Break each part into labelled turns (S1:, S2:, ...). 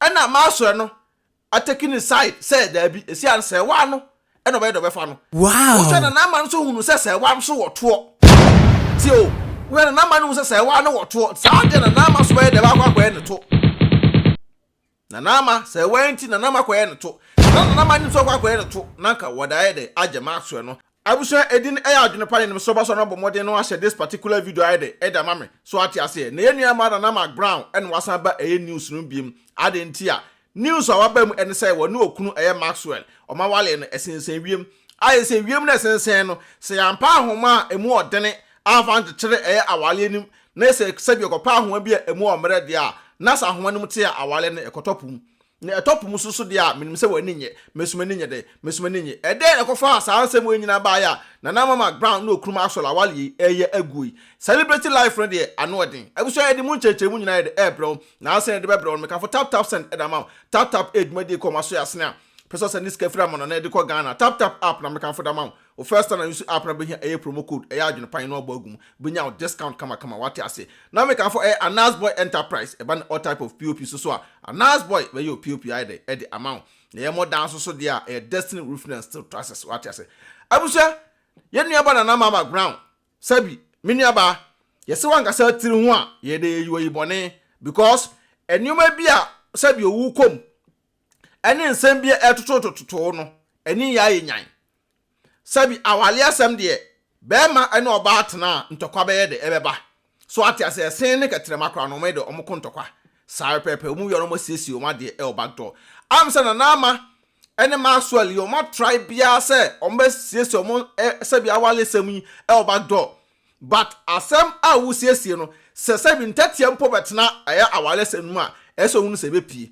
S1: Ɛna masoɛ no atake ne side sɛ daabi ɛsia no sɛ waa no ɛna ɔbɛyɛ dɛ ɔbɛfa no wohwɛ nana ama
S2: no nso hunu
S1: sɛ sɛ waa nso wɔ toɔ tie o wohwɛ nana ama no hunu sɛ sɛ waa no wɔ toɔ nti saa deɛ nana ama nso bɛyɛ dɛ baakɔ akɔyɛ ne to nana ama sɛ waa nti nana ama kɔyɛ ne to na nana ama nso akɔ akɔyɛ ne to na nka wɔda ayɛ dɛ agyɛ masoɛ no Abusua edin ɛyɛ adwene pa yɛnim so ba so na bɔ mmɔden no ahyɛ this particular video ayɛ dɛ ɛde ama me so wate aseɛ na yɛn nua ɛmaa Nana Mark Brown ɛna wasan ba ɛyɛ news no mu biem adɛn nti a news a waba mu ɛne sɛ wɔne okunu ɛyɛ Maxwell ɔma walee no ɛsensɛn wiem ayɛ sɛ wiem na ɛsensɛn no sɛ yɛampa ahoma a ɛmu ɔdene amfa ankyekyere ɛyɛ awaleɛ no mu na sɛ sɛbi yɛkɔpɛ ahoma bi a ɛmu ɔmmerɛ deɛ a na sɛ ahoma no mu te a awaleɛ no ɛkɔtɔ po mu Nea ɛtɔ po mu so nso deɛ a, menim sɛ w'ani nnye. Me nso m'ani nye dɛn? Me nso m'ani nye. Ɛdɛn na ɛkɔfaa saa nsɛm wei nyinaa baeɛ a Nana Mama Brown ne Okunu Maxwell Awale yi reyɛ aguo yi? Celebrity life no deɛ, ano yɛ den. Abusua yɛde mu nkyerɛkyerɛmu nyinaa yɛ dɛ ɛrebrɛ wo, nanso sɛnea yɛde bɛbrɛ wo no, mekafo Tap Tap Send de ama wo. Tap Tap yɛ dwumadie kɔ ma so yɛ asene a, pɛ sɛ ɔsɛnde sika firi Amana na ɛde kɔ Ghana a, Tap Tap app na mekafo de ama wo. Wo first time use app na bɛhia ɛyɛ promo code ɛyɛ adwene pan na wabɔ agu mu bɛnya wo discount kama kama wate aseɛ na mekamfo ɛyɛ Anas boy enterprise ɛba ne all type of pop nso so a Anas boy bɛyɛ wo pop ayɛ dɛn ɛde ama wo na ɛyɛ modern nso so deɛ a ɛyɛ destiny roof na steel trusses wate aseɛ abusua yɛn nua ba Nana Mama Brown sɛbi me nua baa yɛse wankasa tiri ho a yɛdɛ yɛyi wo ayi bɔne because nnoɔma bi a sɛbi owu kɔ mu. ɛne nsɛm bi a ɛtototototow no ani yɛ ayɛ nyan. Sɛbi awale asɛm deɛ, bɛɛma ne ɔbaa tena a ntɔkwa bɛyɛ dɛ, ɛbɛba. So ate ase? Ɛsen ne kɛterɛma koraa no, wɔn de, wɔn ko ntɔkwa. Saa ara pɛɛpɛɛ, wɔn wieɛ no wɔasiesie wɔn adeɛ wɔ back door. Am sɛ Nana Ama ne Maxwell yi, wɔatrae biara sɛ wɔbɛsiesie wɔn sɛbi awalesɛm yi wɔ back door. But asɛm a wosiesie no sɛ sɛbi ntɛteɛ mpo bɛtena ɛyɛ awaresɛm no mu a ɛyɛ sɛ ohunu sɛ ɛbɛpie.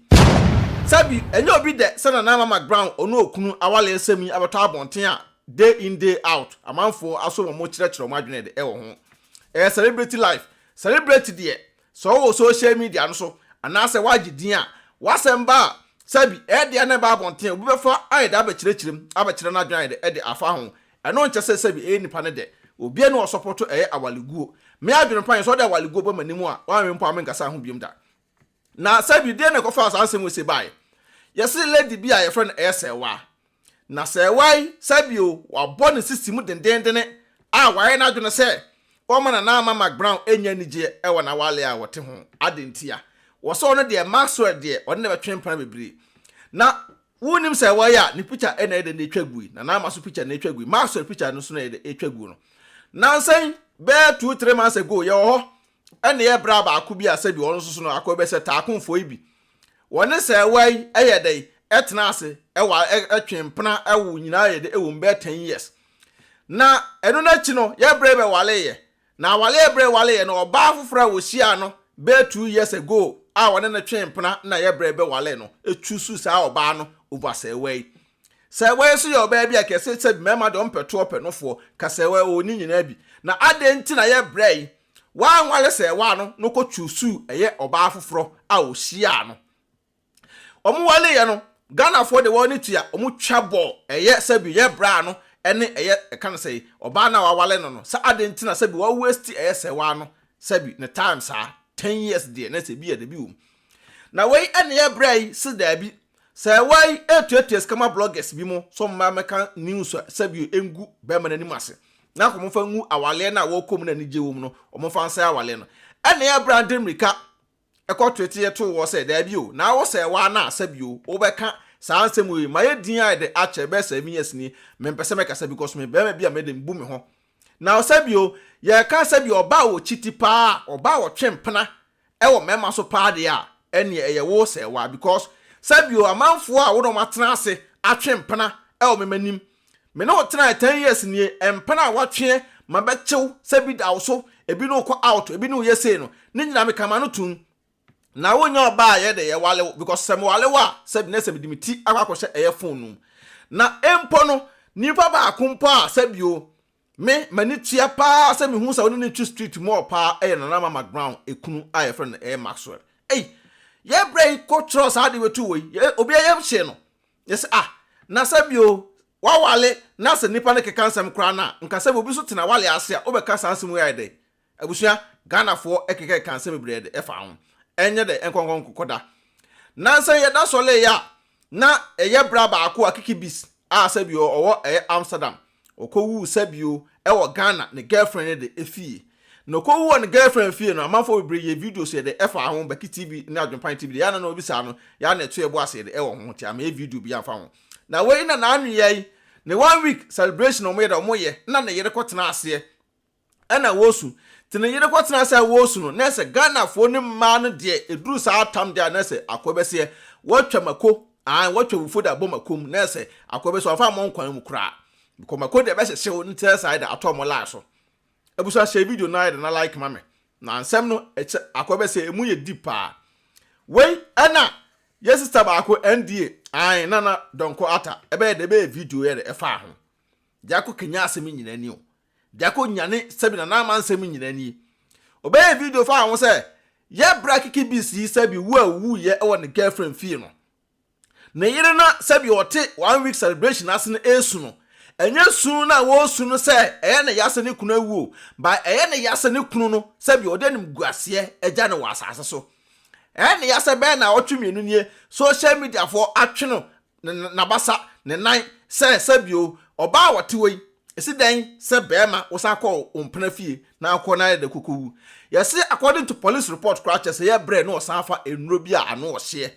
S1: Sɛbi ɛnyɛ obi dɛ sɛ Nana Mama Brown ɔne okunu awaresɛm yi abɛtɔ abɔnten a day in day out amanfoɔ aso wɔn kyerɛkyerɛ wɔn adwene de wɔ ho. Ɛyɛ celebrity life. Celebrity deɛ sɛ ɔwɔ social media no so anaasɛ wagye din a w'asɛm ba a sɛbi ɛyɛ deɛ na ɛba abɔnten a obi bɛfa ayɛ dɛ abɛkyerɛkyerɛ mu abɛkyerɛ n'adwene ayɛ dɛ de afa ho Ɛno nkyɛ sɛ sɛbi ɛyɛ nipa no dɛ obiaa ni ɔsɔpɔto ɛyɛ awaleguo. Me adwene pa yɛ sɛ ɔde awaleguo ba m'anim a wanwe mpo a menkasaa ho biom da. Na sɛbi deɛ na ɛkɔfaa saa nsɛm wei sei baeɛ? Yɛse lady bi a yɛfrɛ no ɛyɛ Sɛɛwaa. Na Sɛɛwaa yi sɛbi o wabɔ ne sisi mu dendenndene a wayɛ n'adwene sɛ ɔma Nana Ama McBrown ɛnya anigyeɛ ɛwɔ n'awale a wɔte ho. Adɛn ntia? Wɔse ɔno deɛ Maxwell deɛ ɔne no bɛtwe mpena bebree. Na Wonnim sɛ wɔyɛ a ne pikya na ɛyɛ dɛ na ɛtwa gui, na n'ama so pikya na ɛtwa gui, Maxwell pikya no nso na ɛyɛ dɛ ɛtwa gu no. Nnansa yi, bɛyɛ two, three months ago, yɛwɔ hɔ na yɛ braa baako bi a sɛbi ɔno nso so no akɔ bɛ sɛ Taakonfoɔ yi bi. Wɔne sɛɛwa yi yɛ dɛ ɛtena ase, ɛwa, ɛtwe mpena, ɛwo nyinaa yɛ dɛ ɛwɔ mu bɛyɛ ten years. Na ɛno n'akyi no, yɛ brɛ bɛ waleeɛ. Na awareɛ berɛ wareɛ no ɔbaa foforɔ a ɔhyiaa no bɛyɛ two years ago a ɔne no twee mpena na yɛ berɛ bɛwaree no choose saa ɔbaa no over sɛɛwaa yi. Sɛɛwaa yi nso yɛ ɔbaa bi a kɛse sɛ mmarima deɛ ɔmpɛ toɔ pɛ nofoɔ ka sɛɛwaa yi ɔwɔ ne nyinaa bi na adɛn nti na yɛ berɛ yi wanware sɛɛwaa no na ɔkɔ choose ɛyɛ ɔbaa foforɔ a ɔhyiaa no Wɔwaleeɛ no, Ghanafoɔ de wɔn ani tua, wɔtwa bɔ, ɛyɛ sɛbi yɛ bra ano ɛne ɛyɛ ɛka no sɛi, ɔbaa no a wawale no no, sɛ adɛn nti na sɛbi wa waste ɛyɛ sɛwaa no sɛbi ne time saa, ten years deɛ na sɛ bi yɛ dabi wom. Na wei ɛne yɛ bra yi se daabi, sɛwaa yi ɛretuatua sika ma bloggers bi mo sɛ wɔmma mɛka news a sɛbi ɛngu bɛɛma no anim ase, na nka wɔmfa ngu awaleɛ no a wɔkɔ mu na anigyeɛ wɔ mu no, wɔmfa nsɛe awaleɛ no. Ɛne yɛ bra de mmirika. kɔ twetie too hɔ sɛ, Daabi o, na wo sɛɛ waa na asa bi o, wo bɛ ka saa nsɛm wei, ma yɛ din ayɛ dɛ akyɛ, bɛ sɛɛ me yɛs nie, me mpɛ sɛ mɛ kasa because me bɛɛma bi a mɛ dem bu me ho. Na ɔsɛ bi o, yɛ ka sɛ bi ɔbaa wɔ kyiti paa a ɔbaa wɔ twe mpena wɔ mɛɛma so paa deɛ a, ɛneɛ ɛyɛ wo sɛɛ waa because sɛ bi o amanfoɔ a wo na ɔmo atena ase atwe mpena wɔ mɛ manim Me ne wo tenae ten years nie mpɛn a watweɛ ma bɛkyew sɛ bi da wo so ebi ne wo kɔ out ebi ne wo yɛ sei no ne nyinaa me kama no tum na wo nyɛ ɔbaa a yɛ de yɛ wale wo because sɛ me wale wo a sɛ bi ne sɛ me de me ti akɔ akɔ hyɛ ɛyɛ phone no mu na mpo no nipa baako mpo a sɛ bi o me m'ani tua paa sɛ me hu sɛ wo ne ne twi street mu ɔ paa ɛyɛ nana mama ground ekunu a yɛ frɛ no ɛyɛ Maxwell ei yɛ brɛ yi kɔ twerɛ saa de bɛtu wɔ yi obi a yɛ hyɛ no Yɛ sɛ, Ah, na sɛ bi o, w'awale na sɛ nnipa no keka nsɛm koraa no a, nka sɛ bi obi nso te n'awale ase a, wobɛka saa nsɛm wei ayɛ dɛn? Abusua, Ghanafoɔ kekakeka nsɛm bebree de ɛfa ho. Ɛnyɛ dɛ, nkɔnkɔnkɔda. Na sɛ yɛda sɔleeɛ a, na ɛyɛ bra baako a Kiki Bis a sɛ bi o, ɔwɔ ɛyɛ Amsterdam. Ɔkɔwuu sɛbio ɛwɔ Ghana ne girlfriend no de ɛfie na ɔkɔwu wɔ ne girlfriend fie no amanfoɔ bebree yɛɛ videos yɛde ɛfaa ho Baki TV ne Adwenpan TV de yɛa na na ɔbisaa no yɛa na ɛto yɛbo ase yɛde ɛwɔ ho nti amayɛ video bi amfa ho na wei na naanoyɛi ne one week celebration ɔmo yɛ dɛ ɔmo yɛ na ne yere kɔtenaa aseɛ ɛna wɔsu nti ne yere kɔtena ase a wɔsu no nɛsɛ Ghanafoɔ ne mmaa no deɛ ɛduru saa tam deɛ a nɛsɛ akoa bɛseɛ wɔatwa mako ae wɔatwa wufuo de abɔ mako mu nɛsɛ akoa bɛseɛ wɔmfa mmɔ nkwan mu koraa bcause mako deɛ ɛbɛhyehye wo nti nɛsɛ ayɛ dɛ atɔ wɔn line so abusua hyɛ video no ayɛ dɛ na like ma me na nsɛm no ɛkyɛ akoa bɛseɛ ɛmu yɛ deep paa wei ɛna yɛ sister baako NDA ae nana dɔnkɔ ata ɛbɛyɛ dɛ ɛbɛyɛ video yɛ dɛ ɛfaa ho deɛ akɔ kenya asɛm nyina ni o Gyako nyane Sabina n'ama nsɛm nyina nie ɔbɛyɛ video fa ho sɛ yɛ bra kiki beast yi Sabi wu a owu yɛ wɔ ne girlfriend fie no ne yere na Sabi ɔte one week celebration ase no esu no ɛnyɛ su na wɔsu no sɛ ɛyɛ ne ya sɛ ne kunu awu o but ɛyɛ ne ya sɛ ne kunu no Sabi ɔde animguaseɛ agya no wɔ asase so ɛyɛ ne ya sɛ bɛyɛ naawɔtwe mmienu nie social media foɔ atwe no n'abasa, ne nan, sɛ, Sɛbio, ɔbaa a wɔte hɔ yi, esi dɛn sɛ bɛɛma wo san kɔɔ wo mpena fie na akɔ na ayɛ dɛ koko wu? Yɛse according to police report koraa kyerɛ sɛ yɛ brɛ na ɔsan fa nnuro bi a ano ɔhyeɛ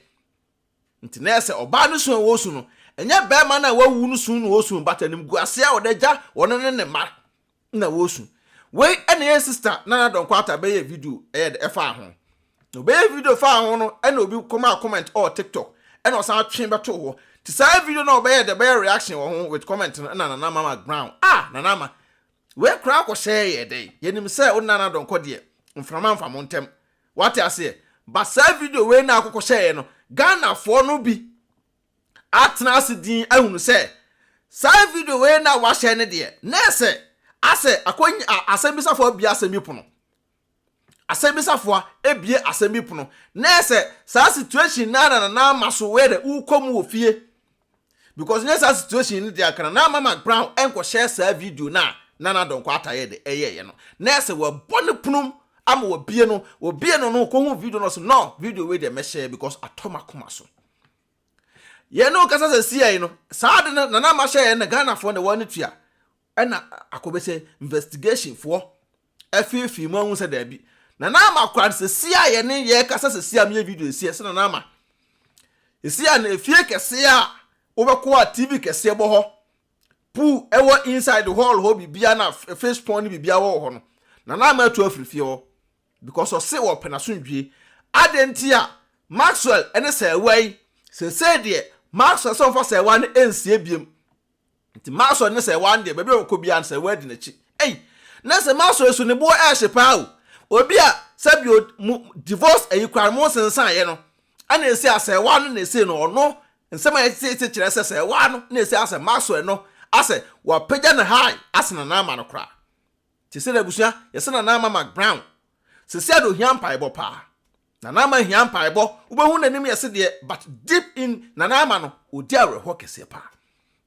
S1: nti na ɛsɛ ɔbaa no sun a ɔresu no ɛnyɛ bɛɛma no a wawu no sun na ɔresu but animguaseɛ a ɔde agya ɔno ne ne mma na wɔresu. Wei na yɛn sista Nana Donkwata bɛyɛɛ video ɛyɛ dɛ ɛfaa ho. Na ɔbɛyɛɛ video faa ho no ɛna obi kɔmaa comment ɛwɔ TikTok ɛna ɔsan twee bɛtoo hɔ. Nti saa video no a ɔbɛyɛɛ dɛ bɛyɛ reaction wɔ ho with comment no ɛna Nana Mama Brown ah Nana Ama wei koraa kɔhyɛɛ yɛɛ dɛ. Yɛnim sɛ wo Nana Donkɔ deɛ mframa mfa mo ntɛm wate aseɛ but saa video wei no a wokɔhyɛɛ yɛ no Ghanafoɔ no bi atena ase dinn ahunu sɛ saa video wei no a wɔahyɛ no deɛ, na ɛyɛ sɛ asɛ akɔnya a asɛmbisafoɔ abue asɛm bi pono. Asɛmbisafoɔ abue asɛm bi pono. Na ɛyɛ sɛ saa situation no ara na Nana Ama so wei dɛ wokɔ mu wɔ fie. Because nyɛ saa situation no deɛ anka Nana Ama ma Brown nkɔhyɛɛ saa video no a Nana Donkor Atta yɛ dɛ ɛyɛeɛ no. Na ɛyɛ sɛ wɔabɔ no pono mu ama wɔabue no. Wɔbue no no, ɔkɔhuu video no ɔse no, video wei deɛ mɛhyɛ because atɔ m'akoma so. Yɛne wo kasa sɛsiɛi no, saa ade no Nana Ama hyɛɛ yɛn na Ghanafoɔ na wɔne tua. Ɛna akɔbɛ sɛ investigation foɔ afeefee mu ahu sɛ daabi. Nana Ama kora no sɛsiɛ a yɛne yɛ kasa sɛsiɛ a meyɛ video sɛsiɛ sɛ Nana Ama. Sɛsiɛ a no efie kɛseɛ a wobɛkɔ a TV kɛseɛ bɔ hɔ, pool ɛwɔ inside hall hɔ biribiara na fish pond ne biribiara wɔ wɔ hɔ no, Nana Ama atu afiri fie hɔ. because ɔse wɔpɛ n'asomdwie. Adɛn nti a Maxwell ne sɛɛwa yi? Seesei deɛ Maxwell sɛ ɔmfa sɛɛwa no nsie biom. Nti Maxwell ne sɛɛwa no deɛ baabi a ɔkɔ biara no sɛɛwa di n'akyi. Ei! Na sɛ Maxwell so ne boɔ ɛɛhye paa o. Obi a sɛbio mo divorce ayi koraa no mo nsensaeɛ no ɛna ɛsei a sɛɛwa no na ɛsei no ɔno nsɛm a yɛtete kyerɛ sɛ sɛɛwa no na ɛsei asɛ Maxwell no asɛ wapagya ne high asene no ama no koraa. Te sɛ n'abusua, yɛse Nana Ama McBrown, Sesei de ohia mpaebɔ paa. Nana Ama hia mpaebɔ, wobɛhu n'anim yɛse deɛ but deep in Nana Ama no, ɔdi awerɛhoɔ kɛseɛ paa.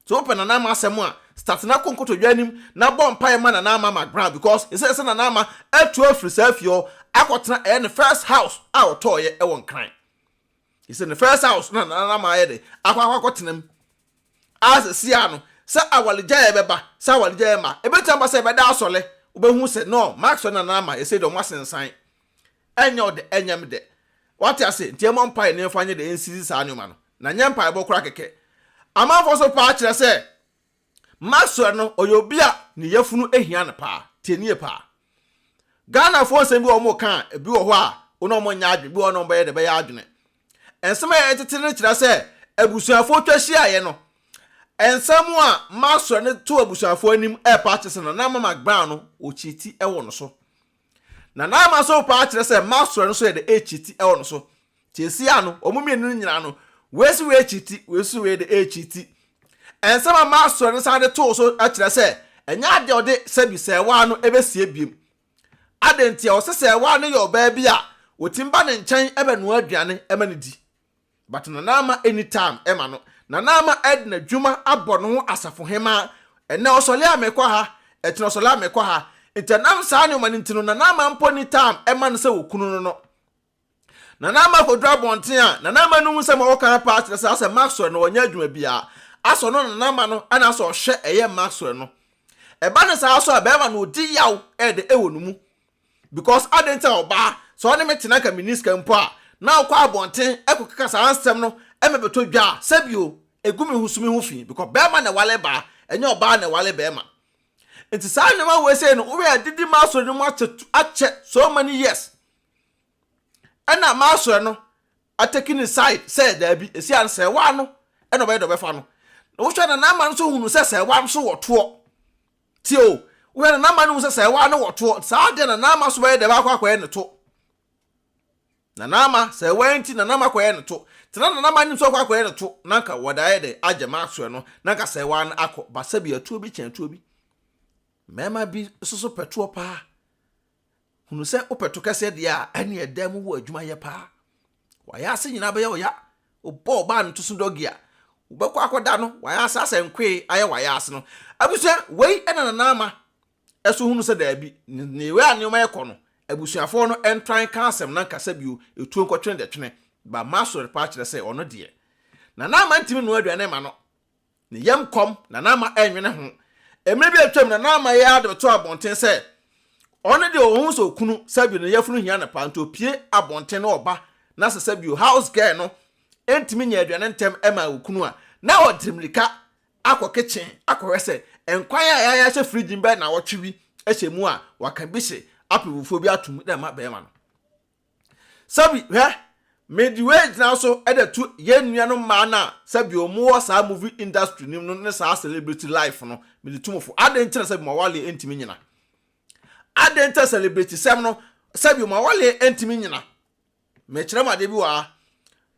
S1: So wopɛ Nana Ama asɛm a, start na kɔ nkotodwe anim na bɔ mpaeɛ ma Nana Ama McBrown because yɛse yɛse Nana Ama atu afiri saa fie hɔ akɔtena ɛyɛ ne first house a ɔtɔɔeɛ wɔ Nkran. Yɛse ne first house na Nana Ama ayɛ dɛ akɔ akɔ akɔtena mu. ara seesei no sɛ awaregyaeɛ bɛba, sɛ awaregyaeɛ ma, ɛbɛtumi aba sɛ ɛbɛda asɔre, wobɛhu sɛ no, Mark sɔre nana ama yɛsei dɛ ɔmo asensan, ɛnyɛ wo dɛ, ɛnyɛ me dɛ. Wate ase? Nti yɛmmɔ mpaeɛ na yɛmfa nyɛ dɛ, yɛnsisi saa nneɛma no, na nyɛ mpaebɔ koraa kɛkɛ. Amanfoɔ nso paa kyerɛ sɛ Mark sɔre no, ɔyɛ obi a ne yafunu hia no paa. Tie nie paa. Ghanafoɔ nsɛm bi wɔ hɔ a wɔka a, ebi wɔ hɔ a, wo ne wɔn nyɛ adwene, ebi wɔ hɔ a, wo ne wɔn bɛyɛ dɛ, bɛyɛ adwene. Nsɛm a ɛtete no kyerɛ sɛ abusuafo twa hyiaeɛ no. Nsɛm a Maxwell de to abusuafo anim repa akyerɛ sɛ Nana Ama Magban no, ɔkyiti wɔ no so. Nana Ama nso repa akyerɛ sɛ Maxwell no nso yɛ dɛ rekyiti wɔ no so. Seesei no, wɔn mmienu no nyinaa no, wei se wei kyiti, wei nso se wei de rekyiti. Nsɛm a Maxwell no san de too so kyerɛ sɛ ɛnyɛ adeɛ a ɔde sɛbi sɛɛwaa no bɛsie bio. Adɛn nti? Ɔsɛ sɛ awaa no yɛ ɔbaa bi a ɔtim ba ne nkyɛn bɛnoa aduane ma no di. But Nana Ama nni time ma no. Nana Ama de n'adwuma abɔ ne ho asafo hemaa. Ɛnnɛ ɔsɔle a mekɔ ha, ɛkyena ɔsɔle a mekɔ ha. Nti ɛnam saa nneɛma no nti no Nana Ama mpo nni time ma no sɛ ɔkunu no no. Nana Ama kɔduru abɔnten a, Nana Ama no hu sɛ ma wɔka no paa kyerɛ sɛ asɛ Maxwell na ɔnyɛ adwuma biara. Asɛ ɔno Nana Ama no na asɛ ɔhwɛ ɛyɛ Maxwell no. Ɛba no saa so a, bɛɛma no ɔdi yaw ɛɛdɛ ɛwɔ ne mu. Because adɛn nti a ɔbaa, sɛ ɔne me te na anka menni sika mpo a, na ɔkɔ abɔnten ɛkɔkeka saa nsɛm no ɛma bɛtɔ dwa a, sɛbi o, ɛgu me ho so me ho fi, because bɛɛma na ɛwale baa, ɛnyɛ ɔbaa na ɛwale bɛɛma. Nti saa nnoɔma wei sei no, wohwɛ a adidi Maxwell no mu akyɛ so many years. ɛna masoɛ no ateki ne side sɛ daabi ɛsi ano sɛ waa no ɛna ɔbɛyɛ dɛ ɔbɛfa no na wohwɛ na n'ama no so hunu sɛ sɛ waa no so wɔ toɔ tie o wohwɛ na n'ama no hunu sɛ sɛ waa no wɔ toɔ saa deɛ na n'ama so bɛyɛ dɛ baakɔ akɔyɛ ne to na n'ama sɛ waa nti na n'ama kɔyɛ ne to tena na n'ama nim sɛ ɔkɔ akɔyɛ ne to na nka wɔde ayɛ dɛ agye masoɛ no na nka sɛ waa no akɔ ba sɛ bi atuo bi kyɛn atuo bi mmarima bi soso pɛtoɔ paa hunu sɛ wopɛ to kɛseɛ deɛ a ɛne ɛdan mu hɔ adwuma yɛ paa wayɛ ase nyinaa bɛyɛ ɔya wobɔ ɔbaa no to so dɔgi a wobɛkɔ akɔda no wayɛ ase asɛ nkoe ayɛ wayɛ ase no abusua wei ɛna nana ama ɛso hunu sɛ daabi ne wei a nneɛma ɛkɔ no abusuafoɔ no ɛntran ka asɛm na nkasa bio ɛtuo nkɔtwene dɛtwene ba ma asɔre paa kyerɛ sɛ ɔno deɛ nana ama ntimi noa aduane ma no Ne yam kɔm na na ama ɛnwene ho. Mmere bi a atwam na na ama yɛ ara de bɛto abɔnten sɛ ɔno deɛ ɔhu sɛ okunu Sabio ne yafunu hia no paa nti opue abɔnten na ɔba na sɛ Sabio house girl no ntumi nya aduane ntɛm ma okunu a na ɔde mmirika akɔ kitchen akɔhwɛ sɛ nkwan a yɛayɛ ahyɛ fridge mu bɛyɛ nnawɔtwe bi hyɛ mu a waka bi hye apewufoɔ bi atom de ama barima no. Sɛbi, hwɛ, mede wei gyina so de to yɛn nuanom mmaa no a sɛbi wɔwɔ saa movie industry no mu no ne saa celebrity life no, mede to mo fo. Adɛn nti na sɛbi mo awaleɛ ntumi nnyina? Adɛn nti na celebritysɛm no sɛbi mo awaleɛ ntumi nnyina? Mekyerɛ mo adeɛ bi wɔ ha.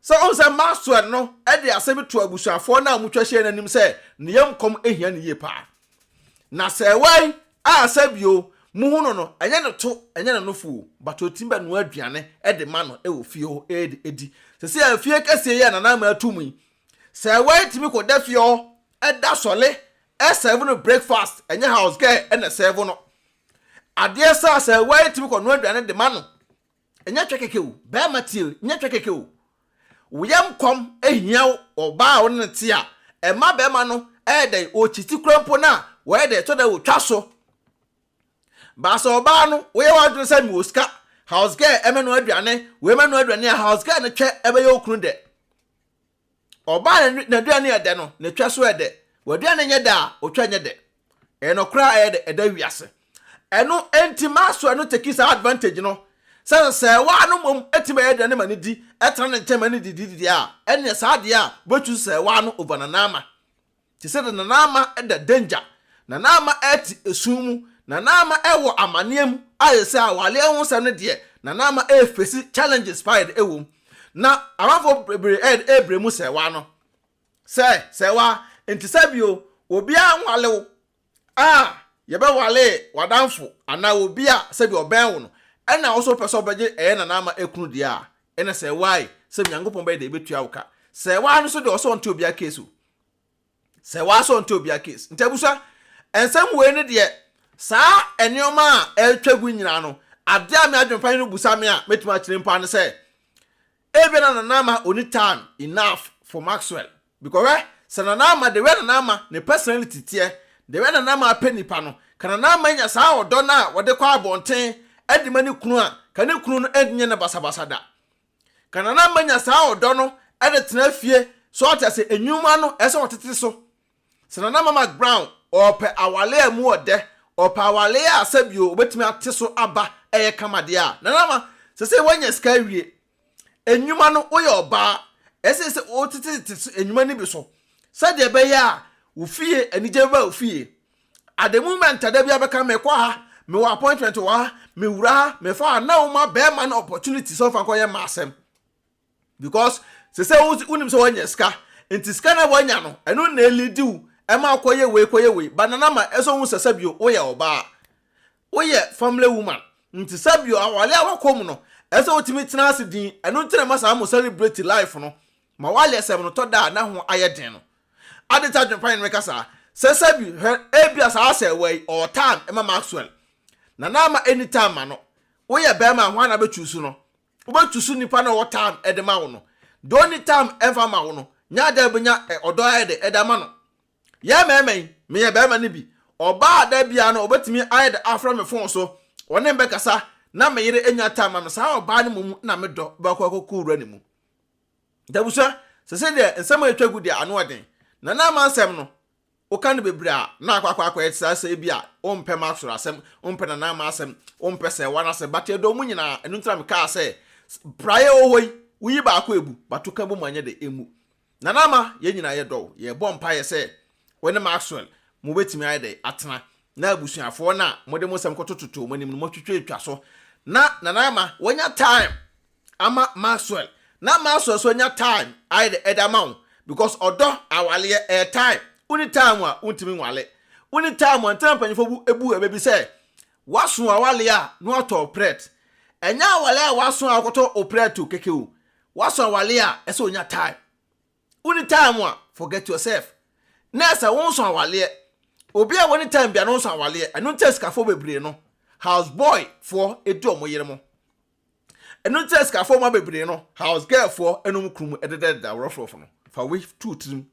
S1: Sɛ wohu sɛ Maxwell no de asɛm bi too abusuafoɔ no a wɔatwa ahyia no anim sɛ ne yam kɔm hia no yie paa. Na sɛ ɛwae a sɛ bio mohu no no, ɛnyɛ no to, ɛnyɛ no nofo o, but ɔtumi bɛnoa aduane de ma no wɔ fie hɔ de adi. Seesei afie kɛseɛ yi a Nana Ama ato mu yi, sɛ ɛwae tumi kɔda fie hɔ da sɔle sɛɛvo no breakfast, ɛnyɛ house girl na ɛsɛɛvo no adeɛ saa. Sɛ ɛwae tumi kɔnoa aduane de ma no. Ɛnyɛ twɛ kɛkɛ o, bɛɛma tie o, nyɛ twɛ kɛkɛ o. Wo yam kɔm hia wo wɔ ɔbaa a wo ne no te a, ɛma bɛɛma no yɛ dɛn, ɔkyiti kora mpo no a, wɔyɛ dɛn, ɛtɔ da bi ɔtwa so. Baa sɛ ɔbaa no, wo yɛ w'adwene sɛ mewɔ sika, house girl mɛnoa aduane, wei mɛnoa aduane a, house girl no twɛ bɛyɛ wo kunu dɛ. Ɔbaa na n'aduane yɛ dɛ no, na etwa so yɛ dɛ. W'aduane nyɛ dɛ a, otwa nyɛ dɛ. Ɛyɛ nokorɛ a ɛyɛ dɛ, ɛda wiase. Ɛno nti Maxwell no tekii saa advantage no sɛ sɛ waa no mmom tumi bɛyɛ aduane ma no di, tena ne nkyɛn ma no didi deɛ a, ɛneɛ saa deɛ a wobɛchuuse sɛ waa no over Nana ama. Te sɛ dɛ na n'ama da danger, na n'ama ɛte esum mu, na n'ama ɛwɔ amaneɛ mu, a te sɛ awareɛ ho nsɛm no deɛ, na n'ama ɛrefesi challenges paa yɛde ɛwɔ mu. Na amanfoɔ bebree ɛyɛ dɛ ɛrebrɛ mu sɛ waa no. Sɛ, sɛ waa, nti sɛ bio, obiara nwale wo, a, yɛbɛware w'adamfo anaa obi a sɛ bi ɔbɛn wo no, ɛna wo nso wopɛ sɛ ɔbɛgye ɛyɛ na n'ama ɛkunu deɛ a, ɛna sɛ waa yi, sɛ Nyankopɔn bɛyɛ dɛ ɛbɛtua wo ka. Sɛ waa no nso deɛ ɔsɛ ɔnte obiara case o. sɛ waa sɛ ɔnte obia case nti abusua nsɛm wei ne deɛ saa nneɛma a ɛretwa gu nyinaa no adeɛ a me adwempan no busa me a mɛtumi akyerɛ mpo ano sɛ ebia na nana ama ɔni time enough for Maxwell because hwɛ sɛ nana ama the way nana ama ne personality teɛ the way nana ama apɛ nipa no ka nana ama nya saa ɔdɔ no a wɔde kɔ abɔnten ɛde ma ne kunu a ka ne kunu no ɛnyɛ ne basabasa da Ka na na manya saa ɔdɔ no de tena fie, so ate ase, nnwuma no ɛsɛ sɛ ɔtete so. Sɛ na na Mama Brown ɔɔpɛ awale a ɛmu ɔdɛ, ɔɔpɛ awale a sɛbio obetumi ate so aba ɛyɛ kama deɛ a, na Mama, sɛsɛi wanya sika awie, nnwuma no woyɛ ɔbaa, ɛsɛ sɛ wotetete nnwuma no bi so, sɛdeɛ ɛbɛyɛ a wo fie, anigye bɛba wo fie. at the moment a da bi abɛka mekɔ ha mewɔ appointment wɔ ha mewura ha mefa a na woma bɛrima no opportunity sɛ ɔfa nkɔyɛ ma asɛm because sɛ sɛ wonim sɛ woanya sika nti sika na woanya no ɛno na ɛlidi wo ɛma kɔyɛ wei kɔyɛ wei ba nana ma ɛsɛ wo sɛ sɛ bio woyɛ ɔbaa woyɛ family woman nti sɛ bio awale a wakɔ mu no ɛsɛ wotumi tena ase din ɛno nti na ma saa mo celebrate life no Ma w'ayɛsɛm no tɔ da a na ho ayɛ den no. Adɛn nti na adwempa yɛn no reka saa? Sesa bi hwɛ, ebia saa asɛewa yi, ɔwɔ time ma Maxwell. Na na ama enni time ma no. Woyɛ barima a, hwan na abɛchuusu no? Wobɛchuusu nipa no a ɔwɔ time de ma wo no. Deɛ ɔnni time mfa mma wo no, nya adeɛ a wobɛnya ɔdɔ ayɛ dɛ de ama no. Yɛn mmarima yi, meyɛ barima no bi, ɔbaa a da biara no ɔbɛtumi ayɛ dɛ afrɛ me fon so, ɔne me bɛkasa, na me yere nnya time ma me, saa ɔbaa no mmom na me dɔ, bɛkɔ akɔkɔ wura ne mu. Nti abusua, sɛ sɛ deɛ nsɛm a atwa gu deɛ ano yɛ den, na na ama nsɛm no woka no bebree a, na akɔ akɔ akɔyɛ te sɛ asɛe bi a wompɛ ma soro asɛm, wompɛ nana ama asɛm, wompɛ sɛ wana asɛm, but yɛdɔ mu nyinaa, ɛno nti na mekaa sɛ, praeɛ wɔ hɔ yi, woyi baako abu, but woka bɔ mu anyɛ dɛ, ɛmmu. Nana ama, yɛn nyinaa yɛdɔ wo, yɛrebɔ mpaeɛ sɛ wo ne Maxwell mobɛtumi ayɛ dɛ atena, na abusuafoɔ no a mode mo nsɛm kɔtototoo mo anim no moatwitwatwa so, na nana ama, wanya time ama Maxwell na Maxwell so anya time ayɛ dɛ ɛde ama wo because ɔdɔ awaleɛ ɛyɛ time woni time a wontimi nwale woni time a ntɛna mpanyinfoɔ bu ebu ɛbɛ bi sɛ waso awale a na watɔ wo prɛt ɛnyɛ awale a waso a wakɔtɔ wo prɛt o keke o waso awale a ɛsɛ onya time woni time a forget yourself na ɛsɛ wonso awaleɛ obi a woni time bia na ɔnso awaleɛ ɛno nti a sikafoɔ bebree no house boy foɔ edi ɔmo yere mo Ɛno nti na sikafoɔ mma bebree no, house girl foɔ ɛna wɔn kunu mu ɛdedadeda rough-rough no. Fa wei to tirim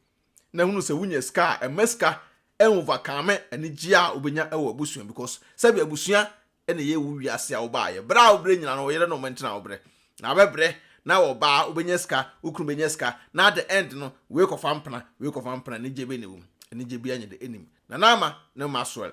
S1: na hunu sɛ wonya sika a, mma sika ɛnwovacaame anigyeɛ a wobɛnya wɔ abusua because sɛbi abusua ɛna ɛyɛ wo wiase a wobaeɛ. Berɛ a wobrɛ nyina no, wo yere ne wo mma nti na wobrɛ. Na wobɛbrɛ na wɔ ba a, wobɛnya sika, wo kunu bɛnya sika na at the end no, wei kɔfa mpena, wei kɔfa mpena, anigyeɛ bɛn na ɛwɔ mu? Anigyeɛ biara nyɛ dɛ ɛnnim. Nana Ama ne Maxwell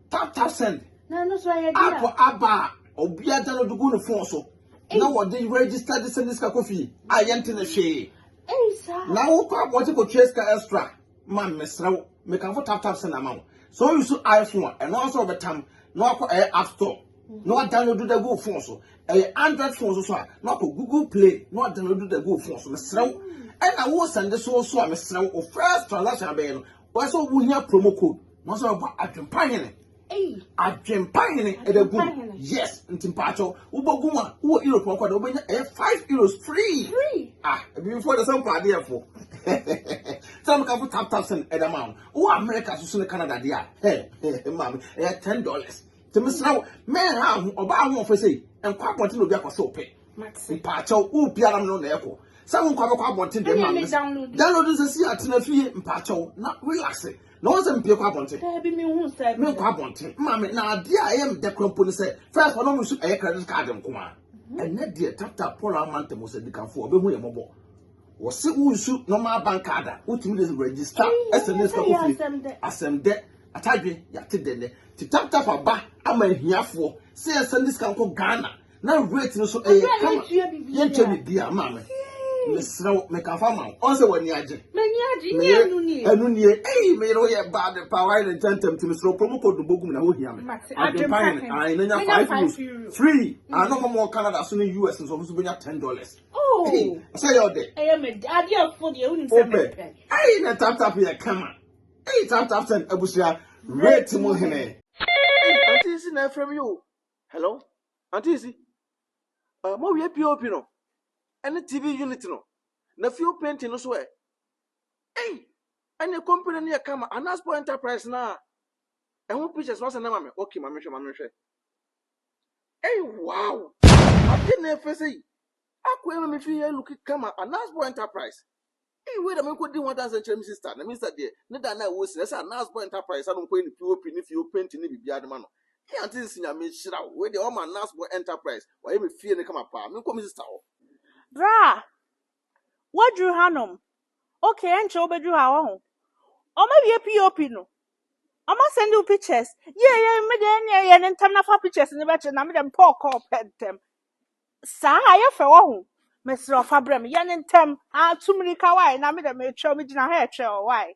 S1: Tap
S2: tap
S1: send. Na
S2: ɛno so ayɛ deɛ. App aba a
S1: obi agya no de gu ne phone so. Na wɔde register de send sika kɔ fie a yɛnte ne hwee. Ei saa. Na
S2: wokɔ abɔnten
S1: kɔtua sika extra ma mesrɛ wo mekamfo tap tap send ama wo. Sɛ wo use iPhone a ɛno ara sɛ wɔbɛtam na wakɔ ɛyɛ app store na wadownload de agu wo phone so. Ɛyɛ Android phone so so a na wakɔ Google Play na wadownload de agu wo phone so mesrɛ wo. Ɛna wo send so so a mesrɛ wo wo first transaction abɛyɛ no Wɔyɛ sɛ wo hia promo code. Wɔn sɛ wɔbɔ adwempa hene. Adwempa hene ɛbɛ gu. Yes, nti mpatsɔ wobɔ gu mu a wowɔ Europe ɔkɔ dɛ wobɛnya ɛyɛ five euros free. Ah, ebi fo de sɛ mpɔ adeɛ fo. Sɛ mo ka fo tap tap send ɛdɛ ma wo. Wowɔ America soso ne Canada deɛ a, hɛ, hɛ, maame, ɛyɛ ten dollars. Nti mesrɛ wo, menha wo ho, ɔbaa ahoɔfɛ sei, nkɔ abɔnten na obi akɔhyɛ wo pɛ. Mpaakyɛw, wo pia nam no na ɛkɔ. Sɛ wo nkɔ abɛkɔ abɔnten deɛ ma no. Download nsɛ si atena fie mpaakyɛw na relax. Na wɔn sɛ mpie kɔ abɔnten. Daabi mi hu sɛ.
S2: Mi nkɔ abɔnten. Maame
S1: na adeɛ a ɛyɛ mdɛ kura mpo ne sɛ first wɔn mu nso ɛyɛ credit card nko a. Mhm. Ɛnɛ deɛ tap tap pɔlɔ ama ntɛm sɛ dikanfoɔ ɔbɛhu yɛ mɔbɔ. Wɔse wo nsu normal bank card a wotumi de register ɛsɛ ne sika kofie asɛm dɛ atadwe yɛate dɛ nɛ ti tap tap aba ama ahiafoɔ sɛ yɛnsɛn de sika nkɔ Ghana na rate no so ɛyɛ kama yɛnkyɛ bibia maame mesrɛ wo mekafa ma wo ɔnsɛ w'ani agye meyere
S2: ɛno nie ei meyere
S1: wo yɛ bad pa wayɛ ne ntɛntɛm ti mesrɛ wo promo code no bɔgu mu na wohia me adwempa hene ae na nya 5 euros free ano hɔ mɔ Canada so ne US nso ɔmo so bɛnya 10 dollars Oh. Hey, I
S2: say you're there. I
S1: am a daddy of
S2: food. You wouldn't say me. Hey, na tap tap
S1: ya kama. Hey, tap tap sen abusia. Rate mo hene. Auntie is na from you. Hello. Auntie is. Uh, mo we POP no. Any TV unit no. Na few painting no so eh. Hey, any company near kama. Anasport Enterprise na. Ɛho pictures no asɛ na ma me. Okay, ma me hwɛ, ma me hwɛ. Ei wow! Ade na ɛfɛ sɛ yi. Akɔ ɛma me fie yɛ look kama Anasbo Enterprise. Ei wei da me nkɔ di ho adanse nkyerɛ me sister na me sister deɛ ne da na ɛwɔ sin ɛsɛ Anasbo Enterprise ano nkɔ yɛ ne POP ne fie o painting ne biribiara de ma no. Ei aunty nsi Nyame nhyira wo wei deɛ wama Anasbo Enterprise wayɛ me fie no kama paa me nkɔ me sister hɔ. Bra!
S2: Woaduru hanom. Okay, ɛnkyɛ wobɛduru ha, woahu. Wɔawie POP no. Wɔasɛnde wo pictures. Yie, yie, me deɛ ɛnneɛ yɛ no ntɛm na fa pictures no bɛkyerɛ na me deɛ mepɛ ɔkɔɔ pɛ ntɛm. Saa a, yɛ fɛ, woahu. Mesrɛ wo fa brɛ me, yɛ no ntɛm. Ah, tu mmirika, why? Na me deɛ meretwɛn, megyina ha retwɛn, why?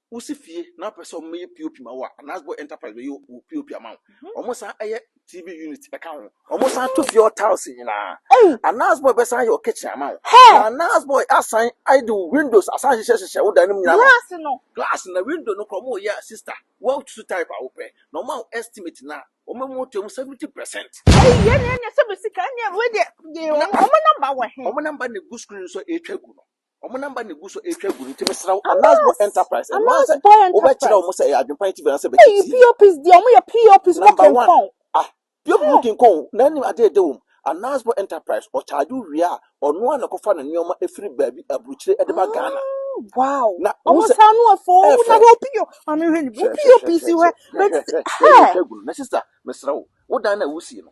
S1: Wosi fie na wopɛ sɛ wɔyɛ POP ma wo a, Anasbo Enterprise bɛyɛ wo POP ama wo. Mhm. Wɔsan yɛ TV unit ka ho. Wɔsan to fie hɔ tiles nyinaa. Anasbo bɛsan yɛ wo kitchen ama wo. Na Anasbo asan ayɛ de wo windows asan hyehyɛ hyehyɛ wo dan no nyinaa. Glass no. Glass na window no kora wɔyɛ a sister. Wɔatutu type a wopɛ. Na wɔn a estimate na wɔn mu to mu 70%. Ɛyi yɛ ne ɛnyɛ sɛ bɛ sika ɛnyɛ
S2: wei deɛ. Wɔn namba wɔ he. Wɔn namba na egu screen so
S1: a ɛretwa gu no. Wɔn namba na egu so retwa gu no nti mesrɛ wo Anas Boy Enterprise ɛno ara sɛ wobɛkyerɛ wɔn sɛ ɛyɛ adwempa nti bɛn sɛ bɛkyɛ tii. POPs deɛ wɔn yɛ
S2: POPs mo kenkɔn. Ah POP mo
S1: kenkɔn na anim adeɛ ɛdɛ wɔm. Anas Boy Enterprise ɔkyagye wo wie a ɔno ara na ɛkɔfa ne nneɛma ɛfiri baabi aburukyire ɛde ba Ghana. Wow. Na
S2: wɔn sɛ saa
S1: no afɔ
S2: wɔn na hɔ POP maame hwɛ ne POPs hwɛ bɛti hɛ.
S1: Na sister mesrɛ wo wo dan na wusie no.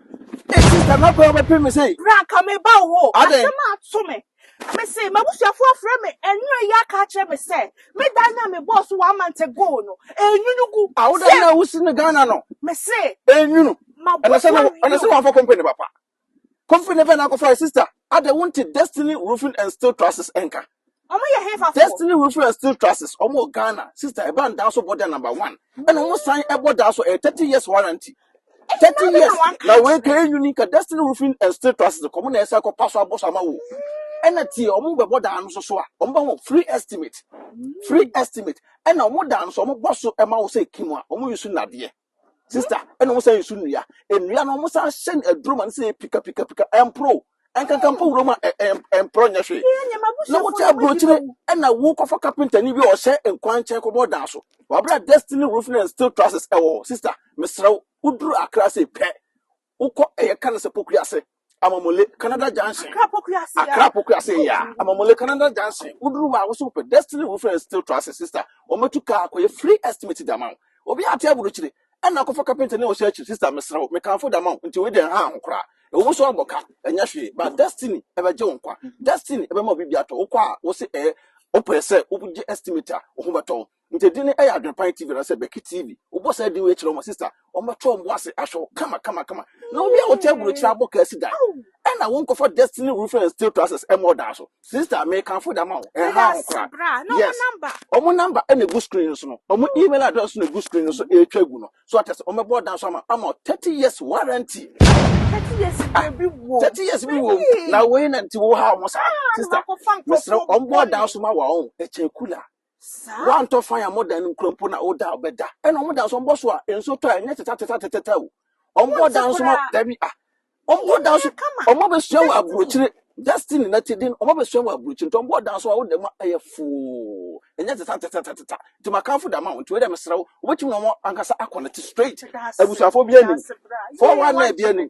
S2: Ee, sista,
S1: m'abɔ a ɔbɛpem me sei. Bra anka mereba wo hɔ.
S2: Adɛn? Asɛm ato me. Mese, m'abusuafoɔ afrɛ me anwumerɛ yi aka akyerɛ me sɛ me dan no a mebɔɔ so one month ago no, ɛrenwunu gu. A, wo dan no a wosi
S1: no Ghana no, Mese,
S2: ɛrenwunu. Ɛna sɛ na,
S1: m'abusuafoɔ ɛna sɛ wamfa company papa. Company bɛn na akɔfae, sista? Adɛn, wonte Destiny Roofing and Steel Trusses nka? Ɔmo yɛ hefa
S2: fo? Destiny Rufin and Steel
S1: Trusses, ɔmo wɔ Ghana. Sister, ɛba no daa so bɔ dɛ number one. Ɛna ɔmo san ɛbɔ daa so, ɛyɛ thirty years warranty. Thirty years! Na wei nka yɛn uni nka Destiny Rufin and Steel Trusses nka ɔmo na yɛsan kɔ pa so abɔ so ama wo. Ɛna tie, ɔmo bɛbɔ daa no so so a, ɔmo bɛ ho free estimate. Free estimate. Ɛna ɔmo daa no so ɔmo bɔ so ɛma wo sɛ kim a, ɔmo use nnadeɛ. Sister, ɛna wɔn san nsu nnua. Nnua no wɔn san hyɛ no aduro ma no sɛ pika pika pika ɛmporo. Ɛnkankan mpo wuram a ɛmporo nyɛ hwee. Na wote aburokyire ɛna wokɔfa kapentani bi a ɔhyɛ nkwankyɛn kɔbɔ dan so. Wabra destiny roofing and steel trusses ɛwɔ hɔ. Sister, mesrɛ wo, woduru Accra sei pɛ, Wokɔ ɛyɛ ka no sɛ pokua ase amamole canada junction akra pokua ase akra pokua ase yɛ a amamole canada junction woduru hɔ a wosi wopɛ destiny roofing and steel trusses sister wɔmɛtu kaa akɔyɛ free estimate de ama wo obi ate aburukyire ɛna akɔfa kapenta ne ɔhyɛ akyi sister mesrɛ wo mekamfo de ama wo nti wei deɛ ha ho koraa ɛwɔ mu so abɔ ka ɛnyɛ hwee ba destiny ɛbɛgye wo nkwa destiny ɛbɛma obi bi atɔ wokɔ a wose ɛyɛ wopɛ sɛ wogye estimate a wo ho bɛtɔ wo Nti edin no yɛ Adwenpan TV anaasɛ Bɛki TV. Wobɔ saa din wei kyerɛ wɔn a, sista, wɔbɛto wɔn bo ase ahwɛ wo kama kama kama. Na obi a wote aburokyiri abɔ kaa si dan, ɛna wonkɔfa Destiny Roofing and Steel Trusses mmɔ ɔdan so. Sista, mekamfo de ama wo, ɛnhaw ho koraa. Yes, wɔn number na egu screen no so no, wɔn email address nso na egu screen no so ɛretwa agu no. So ate ase, wɔbɛbɔ ɔdan so ama ama wo 30 years warranty.
S2: Thirty years Ah, biribi wɔ. 30 years bi wɔ mu.
S1: Na wei na nti wohaw ho saa. Sista, mesrɛ wo, wɔbɔ ɔdan so ma wo a, ɔn, ɛkyɛn kula. Woantɔ fan a modan no nkura mpo na woda a wobɛda. Ɛna wɔn dan so wɔbɔ so a nsuo tɔ a ɛnyɛ tetatatatata o. Wɔbɔ dan so ma dabi a. Wɔbɔ dan so wɔn abɛsua wɔ aburokyire destiny na ti den wɔn abɛsua wɔ aburokyire nti wɔbɔ dan so a woda mu a ɛyɛ foo ɛnyɛ tetatatatata nti makanfo da ma wɔn nti wei dɛ mesrɛ wo wobɛtumi na wɔn ankasa akɔnɛte straight abusuafoɔ bi anim fɔwa na ebi anim